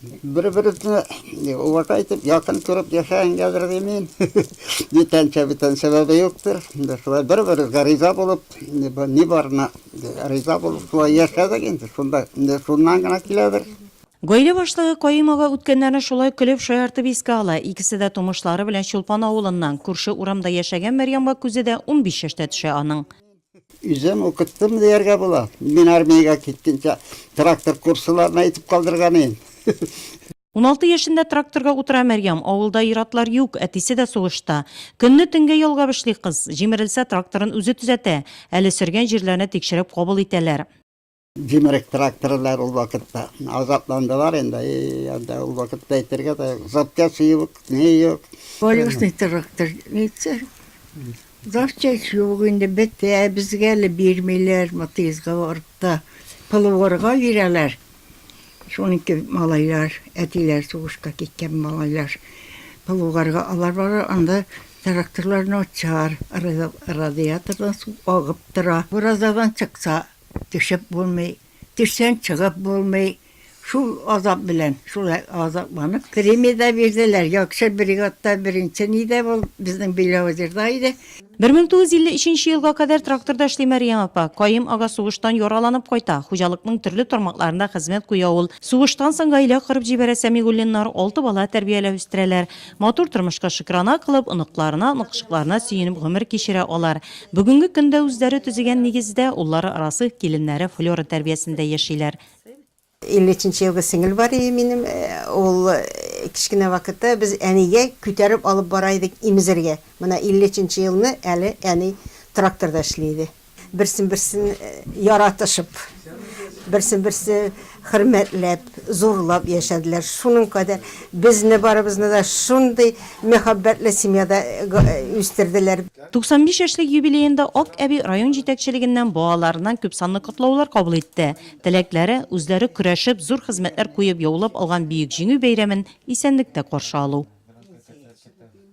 Бер-беребезне уважа итеп, якын күреп яшәгәнгәдер ди мин. Ни тәнчә бүтән сәбәбе юктыр. Шулай бер-беребезгә риза булып, ни барына риза булып шулай яшәдек инде. Шунда шуннан гына киләдер. Гаилә башлыгы Каим ага үткәннәрне шулай көлеп шаяртып искә ала. Икесе дә тумышлары белән Чулпан авылыннан, күрше урамда яшәгән Мәрьямга күзе дә унбиш яшьтә төшә аның. Үзем укыттым дияргә була. Мин армиягә киткәнчә трактор курсларына әйтеп калдырган идем. Уналты яшендә тракторга утыра Мәрьям. Авылда ир-атлар юк, әтисе дә сугышта. Көнне-төнгә ялгап эшли кыз. Җимерелсә, тракторын үзе төзәтә. Әле сөргән җирләрне тикшереп кабул итәләр. Җимерек тракторлар ул вакытта. Азапландылар инде. И, анда ул вакытта әйтергә дә запчасть юк, ни юк. Колесный трактор әйтсә. Запчасть юк инде, бетә. Безгә әле бирмиләр, Матыйзга барып та. Полуорга бирәләр. Шуныкы малайлар, әтиләр сугышка киткән малайлар. Полуорга алар баралар, анда тракторлар начар, радиатордан су агып тора. Уразадан чыкса, Төшеп булмый, төшсәң чыгып булмый. Шул азап белән, шулай азапланып. Премия дә бирделәр, яхшы бригадта беренче ни дә булып, безнең Белоозерда иде. 1953 елга кадәр тракторда эшли Мәрьям апа. Каем ага сугыштан яраланып кайта. Хуҗалыкның төрле тармакларында хезмәт куя ул. Сугыштан соң гаилә корып җибәрә Сәмигуллиннар, алты бала тәрбияләп үстерәләр. Матур тормышка шөкрана кылып, оныкларына, оныкчыкларына сөенеп гомер кичерә алар. Бүгенге көндә үзләре төзегән нигездә, уллары Расыйх, киленнәре Флера тәрбиясендә яшиләр. 53 нче елгы сеңел бар иде минем, ул кечкенә вакытта без әнигә күтәреп алып бара идек имезергә. Менә 53 нче елны әле әни тракторда эшли иде. Берсен-берсен яратышып, берсен-берсе хөрмәтләп, зурлап яшәделәр. Шуның кадәр безне барыбызны да шундый мәхәббәтле семьяда үстерделәр. 95 яшьлек юбилеенда Ак әби район җитәкчелегеннән балаларыннан күпсанлы котлаулар кабул итте. Теләкләре, үзләре көрәшеп, зур хезмәтләр куеп яулап алган Бөек Җиңү бәйрәмен исәнлектә каршы алу.